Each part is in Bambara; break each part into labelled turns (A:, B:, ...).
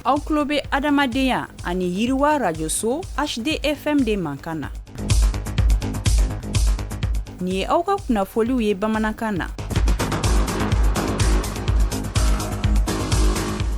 A: aw tulo bɛ adamadenya ani yiriwa rajoso hdfm de mankan na nin ye aw ka kunnafoliw ye bamanankan na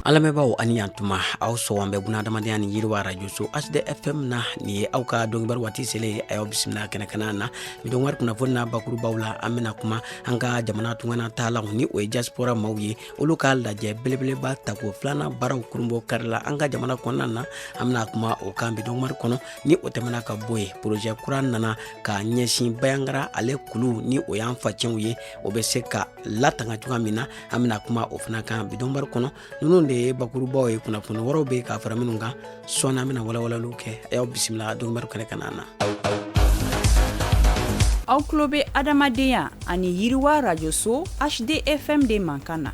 B: an lamɛnbaaw ani yantuma aw sɔn an bɛ buna adamadenya ni yiriwa rajoso hdfm na nin ye aw ka donkibaru waati selen a y'aw bisimila kɛnɛ kana na nin donkibaru kunnafoni na bakurubaw la an bɛna kuma an ka jamana tunganatalaw ni o ye diaspora maaw ye olu ka lajɛ belebeleba tako filanan baaraw kurunbonkarila an ka jamana kɔnɔna na an bɛna kuma o kan bi donkibaru kɔnɔ ni o tɛmɛna ka bɔ yen porozɛ kura nana ka ɲɛsin bayangara ale kuluw ni o y'an facɛnw ye o bɛ se ka latanga cogoya min na an bɛna kuma o fana kan bi donkibaru kɔnɔ ninnu de ye bakurubaw ye kunnafoni wɛrɛw bɛ ka fara minnu kan sɔɔni an bɛna walawalaliw kɛ a y'aw bisimila donkibaru kɛnɛ kana
A: na aw tulo bɛ adamadenya ani yiriwa rajoso hdfm de mankan na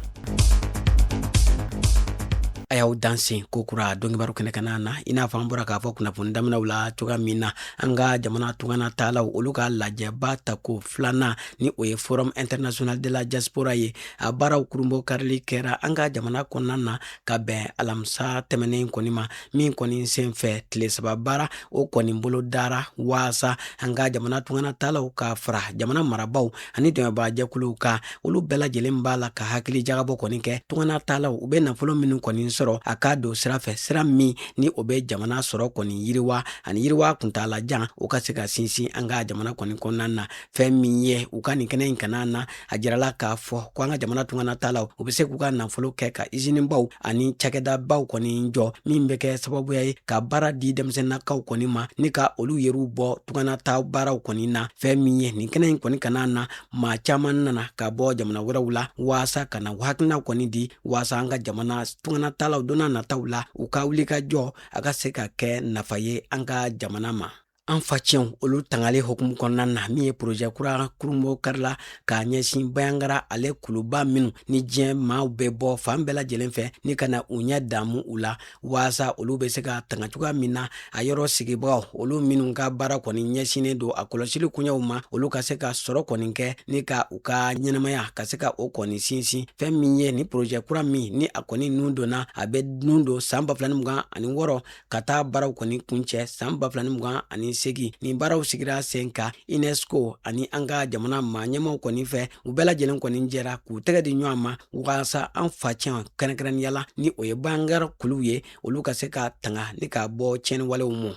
B: a y'aw dansɛ kokura donkibaru kɛnɛ kana na i n'a fɔ an bɔra k'a fɔ kunnafoni daminɛw la cogoya min na an ka jamana tungana taalaw olu ka lajɛba tako filanan ni o ye forum international de la diaspora ye a baaraw kurunbonkarili kɛra an ka jamana kɔnɔna na ka bɛn alamisa tɛmɛnen kɔni ma min kɔni sen fɛ tile saba baara o kɔni bolo dara waasa an ka jamana tunganatalaw ka fara jamana marabaaw ani dɛmɛbaajɛkuluw kan olu bɛɛ lajɛlen b'a la ka hakili jagabɔ kɔni kɛ tunganatalaw u bɛ nafolo minnu kɔni sɔrɔ a ka don sira fɛ sira min ni o bɛ jamana sɔrɔ kɔni yiriwa ani yiriwa kuntaalajan o ka se ka sinsin an ka jamana kɔni kɔnɔna na fɛn min ye u ka nin kɛnɛ in kana na a jirala k'a fɔ ko an ka jamana tunganatalaw u bɛ se k'u ka nafolo kɛ ka izinibaw ani cakɛdabaw kɔni jɔ min bɛ kɛ sababuya ye ka baara di denmisɛnnakaw kɔni ma ni ka olu yɛrɛw bɔ tunganata baaraw kɔni na fɛn min ye nin kɛnɛ in kɔni kana na maa caman nana ka bɔ jamana wɛrɛw la waasa ka na u hakilinaw kɔni di waasa an ka jamana tunganatalaw donna nataw la u ka wulikajɔ a ka se ka kɛ nafa ye an ka jamana ma an facɛnw olu tangali hukumu kɔnɔna na min ye porozɛ kura kurunbonkarila ka ɲɛsin bayangara ale kuluba minnu ni diɲɛ maaw bɛ bɔ fan bɛɛ lajɛlen fɛ ni ka na u ɲɛ damu u la waasa olu bɛ se ka tanga cogoya min na a yɔrɔ sigibagaw olu minnu ka baara kɔni ɲɛsinnen don a kɔlɔsili koɲɛw ma olu ka se ka sɔrɔ kɔni kɛ ni ka u ka ɲɛnamaya ka se ka o kɔni sinsin fɛn min ye nin porozɛ kura min ni a kɔni nun donna a bɛ nun don san ba fila ni mugan ani wɔɔrɔ ka taa baaraw kɔni kuncɛ san ba fila ni mugan ani segin nin baaraw sigira sen kan unesco ani an ka jamana maa ɲɛmaaw kɔni fɛ u bɛɛ lajɛlen kɔni jɛra k'u tɛgɛ di ɲɔgɔn ma waasa an facɛn kɛrɛnkɛrɛnnenya la ni o ye bayangara kuluw ye olu ka se ka tanga ni ka bɔ tiɲɛniwalew ma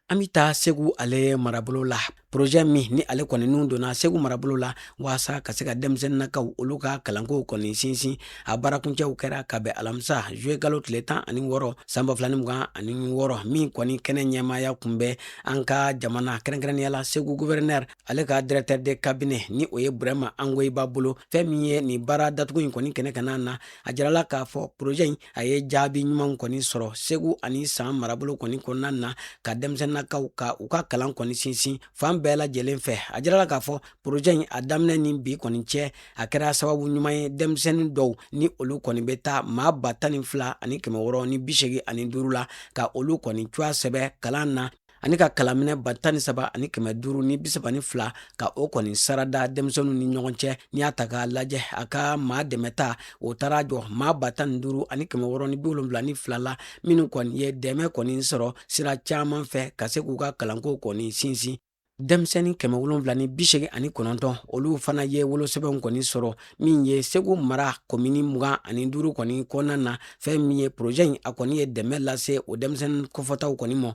B: an bɛ taa segu ale marabolo la projet min ni ale kɔni nun donna segu marabolo la waasa ka se ka denmisɛnninakaw olu ka kalankow kɔni sinsin a baarakuncɛw kɛra ka bɛn alamisa juillet kalo tile tan ani wɔɔrɔ san ba fila ni mugan ani wɔɔrɔ min kɔni kɛnɛ ɲɛmaaya kun bɛ an ka jamana kɛrɛnkɛrɛnnenya la segu gouverneur ale ka directeur de cabinet ni o ye burɛma angoyiba bolo fɛn min ye nin baara datugu in kɔni kɛnɛ kanna na a jirala k'a fɔ projet in a ye jaabi ɲumanw kɔni sɔrɔ segu ani san marabolo kɔni kɔnɔna na ka denmisɛnninakaw ka u ka kalan kɔni sinsin fan bɛɛ lajɛlen fɛ a jirala k'a fɔ projet in a daminɛ ni bi kɔni cɛ a kɛra sababu ɲuman ye denmisɛnnin dɔw ni olu kɔni bɛ taa maa ba tan ni fila ani kɛmɛ wɔɔrɔ ni bisegi ani duuru la ka olu kɔni tɔgɔ sɛbɛn kalan na ani ka kalanminɛn ba tan ni saba ani kɛmɛ duuru ni bisaba ni fila ka o kɔni sarada denmisɛnninw ni ɲɔgɔn cɛ n'i y'a ta k'a lajɛ a ka maa dɛmɛta o taara jɔ maa ba tan ni duuru ani kɛmɛ wɔɔrɔ ni biwolonwula ni fila la minnu kɔni ye dɛmɛ kɔni sɔrɔ sira caman fɛ ka se k'u ka kalanko kɔni sinsin denmisɛnnin kɛmɛ wolonwula ni bisegin ani kɔnɔntɔn olu fana ye wolosɛbɛnw kɔni sɔrɔ min ye segu mara komini mugan ani duuru kɔni kɔnɔna na fɛn min ye projet in a kɔni ye dɛmɛ lase o denmisɛnnin kofɔtaw kɔni mɔ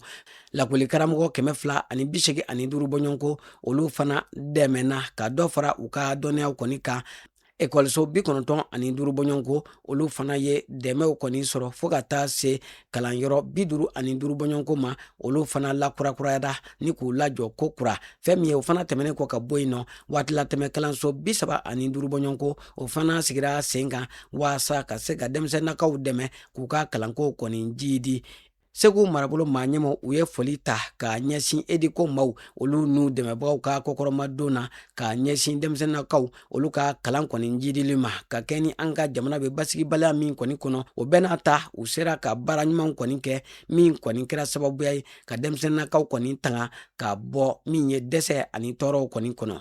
B: lakɔli karamɔgɔ kɛmɛ fila ani bi segi ani duuru bɔɲɔgɔnko olu fana dɛmɛna ka dɔ fara u ka dɔnniyaw kɔni kan ekɔliso bi kɔnɔntɔn ani duuru bɔɲɔgɔnko olu fana ye dɛmɛw kɔni sɔrɔ fo ka taa se kalanyɔrɔ bi duuru ani duuru bɔɲɔgɔnko ma olu fana lakurakurayada ni k'u lajɔ ko kura fɛn min ye o fana tɛmɛnen kɔ ka bɔ yen nɔ waatilatɛmɛ kalanso bi saba ani duuru bɔɲɔgɔnko o fana sigira sen kan waasa ka se ka denmisɛnnakaw dɛmɛ k'u ka kalankow kɔni jiidi segu marabolo maa ɲɛmaw u ye foli ta ka ɲɛsin educo maaw olu n'u dɛmɛbagaw ka kɔkɔrɔmadon na ka ɲɛsin denmisɛnnakaw olu ka kalan kɔni jiidili ma ka kɛɲɛ ni an ka jamana bɛ basigibaliya min kɔni kɔnɔ o bɛɛ n'a ta u sera ka baara ɲumanw kɔni kɛ min kɔni kɛra sababuya ye ka denmisɛnnakaw kɔni tanga ka bɔ min ye dɛsɛ ani tɔɔrɔw kɔni kɔnɔ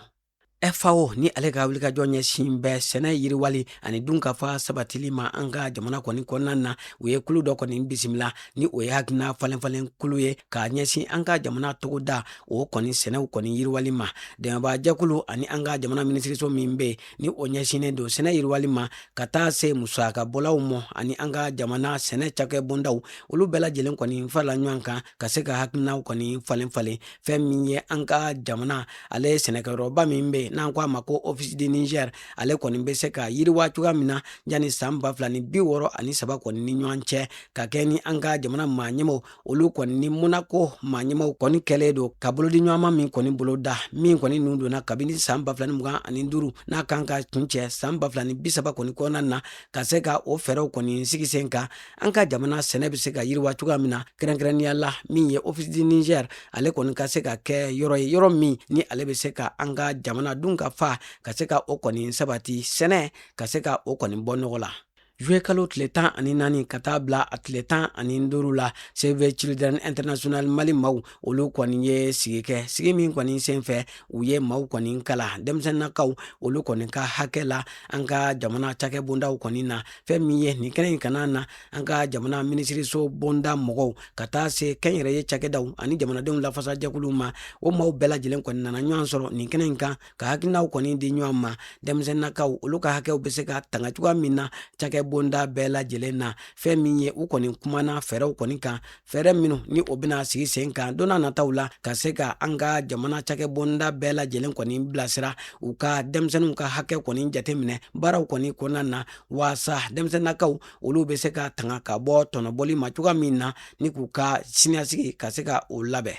B: FAO ni ale ka wulikajɔ ɲɛsin bɛ sɛnɛ yiriwali ani dunkafa sabatili ma an ka jamana kɔni kɔnɔna na u ye kulu dɔ kɔni bisimila ni o ye hakilina falenfalen kulu ye k'a ɲɛsin an ka jamana togoda o kɔni sɛnɛw kɔni yiriwali ma dɛmɛbaa jɛkulu ani an ka jamana minisiriso min bɛ ni o ɲɛsinnen don sɛnɛ yiriwali ma ka taa se musaka bɔlaw mɔ ani an ka jamana sɛnɛ cakɛ bondaw olu bɛɛ lajɛlen kɔni farala ɲɔgɔn kan ka se ka hakilinaw kɔni falen falen fɛn min ye an ka jamana ale sɛnɛkɛyɔrɔba min bɛ n'an ko a ma ko office du niger ale kɔni bɛ se ka yiriwa cogoya min na yanni san ba fila ni bi wɔɔrɔ ani saba kɔni ni ɲɔgɔn cɛ ka kɛɲɛ ni an ka jamana maa ɲɛmaw olu kɔni ni monaco maa ɲɛmaw kɔni kɛlen don ka bolodiɲɔgɔnma min kɔni boloda min kɔni nun donna kabini san ba fila ni mugan ani duuru n'a kan ka kuncɛ san ba fila ni bi saba kɔni kɔnɔna na ka se ka o fɛɛrɛw kɔni sigi sen kan an ka jamana sɛnɛ bɛ se ka yiriwa cogoya min na kɛrɛnkɛrɛnnenya la min ye office du niger ale kɔni ka se ka kɛ yɔrɔ ye yɔrɔ min ni ale bɛ se ka an ka jamana dun ka fa ka se ka o kɔni sabati sɛnɛ ka se ka o kɔni bɔ nɔgɔ la juillet kalo tile tan ani naani ka taa bila a tile tan ani duuru la save children international mali maaw olu kɔni ye sigi kɛ sigi min kɔni senfɛ u ye maaw kɔni kalan denmisɛnninakaw olu kɔni ka hakɛ la an ka jamana cakɛ bondaw kɔni na fɛn min ye nin kɛnɛ in kanna na an ka jamana minisiriso bonda mɔgɔw ka taa se kɛnyɛrɛye cakɛdaw ani jamanadenw lafasajɛkuluw ma o maaw bɛɛ lajɛlen kɔni nana ɲɔgɔn sɔrɔ nin kɛnɛ in kan ka hakilinaw kɔni di ɲɔgɔn ma denmisɛnninakaw olu ka hakɛw bɛ se ka tanga cogoya min na cakɛ bonda bɛɛ lajɛlen na fɛn min ye u kɔni kumana fɛɛrɛw kɔni kan fɛɛrɛ minnu ni o bɛna sigi sen kan don na nataw la ka se ka an ka jamana cakɛ bonda bɛɛ lajɛlen kɔni bilasira u ka denmisɛnninw ka hakɛ kɔni jateminɛ baaraw kɔni kɔnɔna na waasa denmisɛnnakaw olu bɛ se ka tanga ka bɔ tɔnɔbɔli ma cogoya min na ni k'u ka siniɲɛsigi ka se ka o labɛn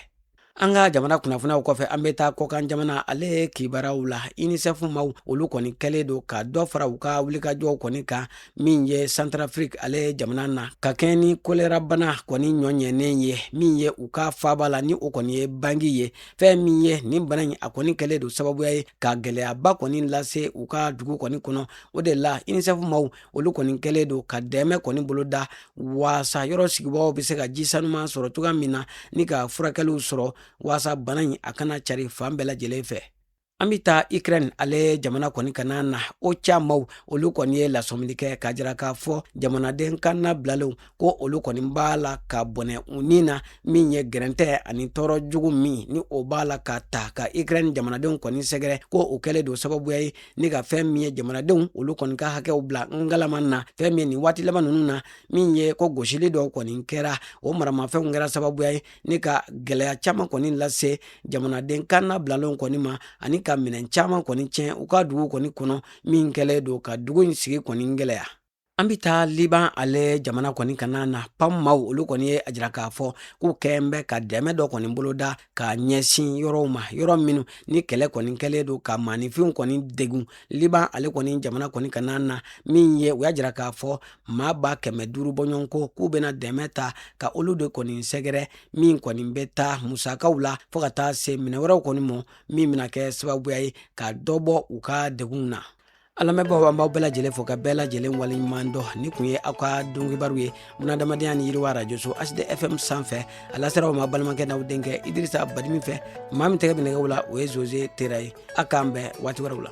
B: an ka jamana kunnafoniyaw kɔfɛ an bɛ taa kɔkan jamana ale kibaruyaw la unicef maaw olu kɔni kɛlen don ka dɔ fara u ka wulikajɔw kɔni kan min ye centrafrique ale jamana na ka kɛɲɛ ni kolera bana kɔni ɲɔɲɛnen ye min ye u ka faaba la ni o kɔni ye bangui ye fɛn min ye nin bana in a kɔni kɛlen don sababuya ye ka gɛlɛyaba kɔni lase u ka dugu kɔni kɔnɔ o de la unicef maaw olu kɔni kɛlen don ka dɛmɛ kɔni boloda waasa yɔrɔ sigibagaw bɛ se ka ji sanuman sɔrɔ cogoya min na ni ka furakɛliw sɔrɔ waasa bana in a kana cari fan bɛɛ lajɛlen fɛ an bɛ taa ukraine ale jamana kɔni kanna na ocha maaw olu kɔni ye lasɔmili kɛ k'a jira k'a fɔ jamanaden kannabilalenw ko olu kɔni b'a la ka bɔnɛ u ni na min ye gɛrɛntɛ ani tɔɔrɔ jugu min ni o b'a la ka taa ka ukraine jamanadenw kɔni sɛgɛrɛ ko o kɛlen don sababuya ye ni ka fɛn min ye jamanadenw olu kɔni ka hakɛw bila ngalaman na fɛn min ye nin waati laban nunu na min ye ko gosili dɔw kɔni kɛra o maramafɛnw kɛra sababuya ye ni ka gɛlɛya caman kɔni lase jamanaden kannabilalenw kɔni ma ani ka minɛn caman kɔni tiɲɛ u ka dugu kɔni kɔnɔ min kɛlen don ka dugu in sigi kɔni gɛlɛya an bɛ taa liban ale jamana kɔni kanna na pam maaw olu kɔni ye a jira k'a fɔ k'u kɛn bɛ ka dɛmɛ dɔ kɔni boloda ka ɲɛsin yɔrɔw ma yɔrɔ minnu ni kɛlɛ kɔni kɛlen don ka maaninfinw kɔni degun liban ale kɔni jamana kɔni kanna na min ye u y'a jira k'a fɔ maa ba kɛmɛ duuru bɔɲɔgɔn ko k'u bɛna dɛmɛ ta ka olu de kɔni sɛgɛrɛ min kɔni bɛ taa musakaw la fo ka taa se minɛn wɛrɛw kɔni ma min bɛna kɛ sababuya ye ka dɔ bɔ u ka degunw na an lamɛnbagaw an b'aw bɛɛ lajɛlen fo ka bɛɛ lajɛlen waleɲuman dɔn nin kun ye aw ka donkibaru ye bunadamadenya ni yiriwa arajoso hdfm sanfɛ a lasera aw ma balimakɛ n'aw denkɛ idirisa badimi fɛ maa min tɛgɛ bɛ nɛgɛw la o ye zoze tera ye a k'an bɛn waati wɛrɛw la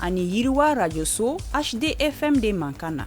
A: Ani yiriwa Radio so HD FM de mankan na.